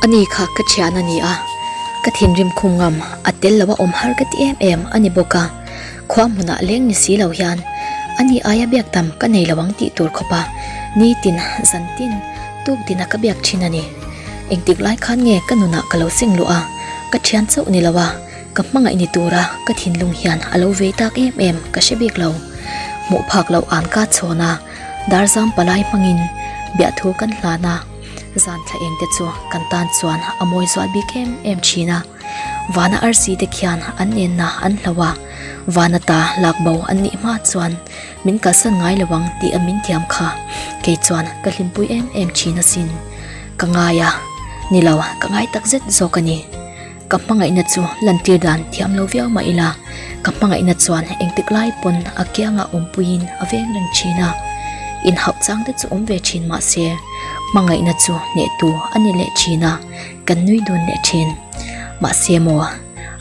A ni kha ka thian a ni a, ka thinrim khum ngam a tel lo a awm har ka tih em em a ni bawk a, khua hmunah leng ni si lo hian a ni aia biakdam ka nei lo ang tih tur khawp a ni tin zan tin tuk dina ka biak thin a ni, engtik lai khan nge ka nunah ka lo seng luh a, ka thian chauh ni lo a, ka hmangaih ni tura ka thinlung hian a lo vei tak em em ka hre bik lo, hmuh phak loh an ka chhawn a. Darzam palai hmangin biahthu kan hlan a, zan thla engte chu kan tan chuan a mawi zual bik em em thin a. Vana arsi te khian an nenna an hlau a, Vana ta lak bo an nih hma chuan min kalsan ngai lo ang tih a min tiam kha, kei chuan ka hlimpui em em thin asin. Ka ngai a, nilo ka ngai takzet zawk a ni. Ka hmangaihna chu lantir dan thiam lo viau mah ila, ka hmangaihna chuan engtik lai pawn a kiangah awmpuiin a veng reng thin a. Inhauh chang te chu awm ve thin mahse, hmangaihna chu hnehtu a ni leh thin a, kan nui dawn leh thin. Mahse maw,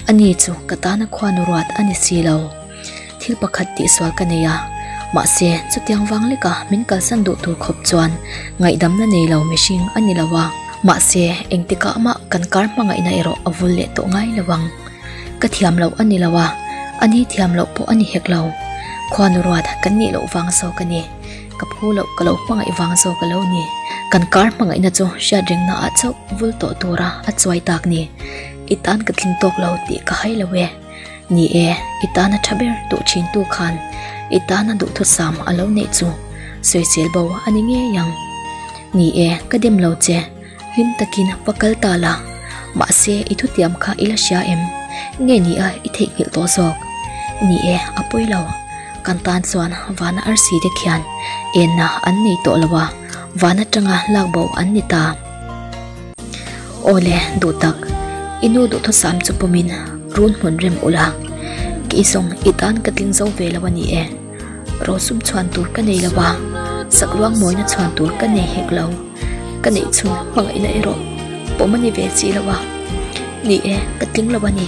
ani chu ka tana khuanu ruat a ni si lo. Thil pakhat tih sual ka nei a, mahse chutiang vang leka min kalsan duh tur khawp chuan ngaihdamna nei lo mihring a ni lo a, mahse engtikah mah kan kar hmangaihna erawh a vul leh tawh ngai lo ang. Ka thiam loh a ni lo a, a ni thiam loh pawh a ni hek lo. Khuanu ruat kan nih loh vang zawk a ni, ka phu loh ka lo hmangaih vang zawk a lo ni. Kan kar hmangaihna chu hriat reng naah chauh vul tawh tura a chuai tak ni, i tan ka tling tawk lo tih ka hai lo e. Ni e, i tana tha ber duh thintu khan i tana duhthusam a lo neih chu sawi zel bo a ni ngei ang. Ni e, ka dem lo che, hlim takin va kal ta la. Mahse, i thutiam kha i la hria em? Nge nia i theihnghilh tawh zawk? Ni e, a pawi lo. Kan tan chuan vana arsi te khian enna an nei tawh lo a, van atanga lak bo an ni ta. Awle, duh tak, i nu duhthusam chu pawmin run hmun rem ula, kei zawng i tan ka tling zo ve lo a ni e. Rawlsum chhuan tur ka nei lo va, sak luang mawina chhuan tur ka nei hek lo. Ka neih chhun hmangaihna erawh pawm a ni ve si lo a ni e, ka tling lo a ni.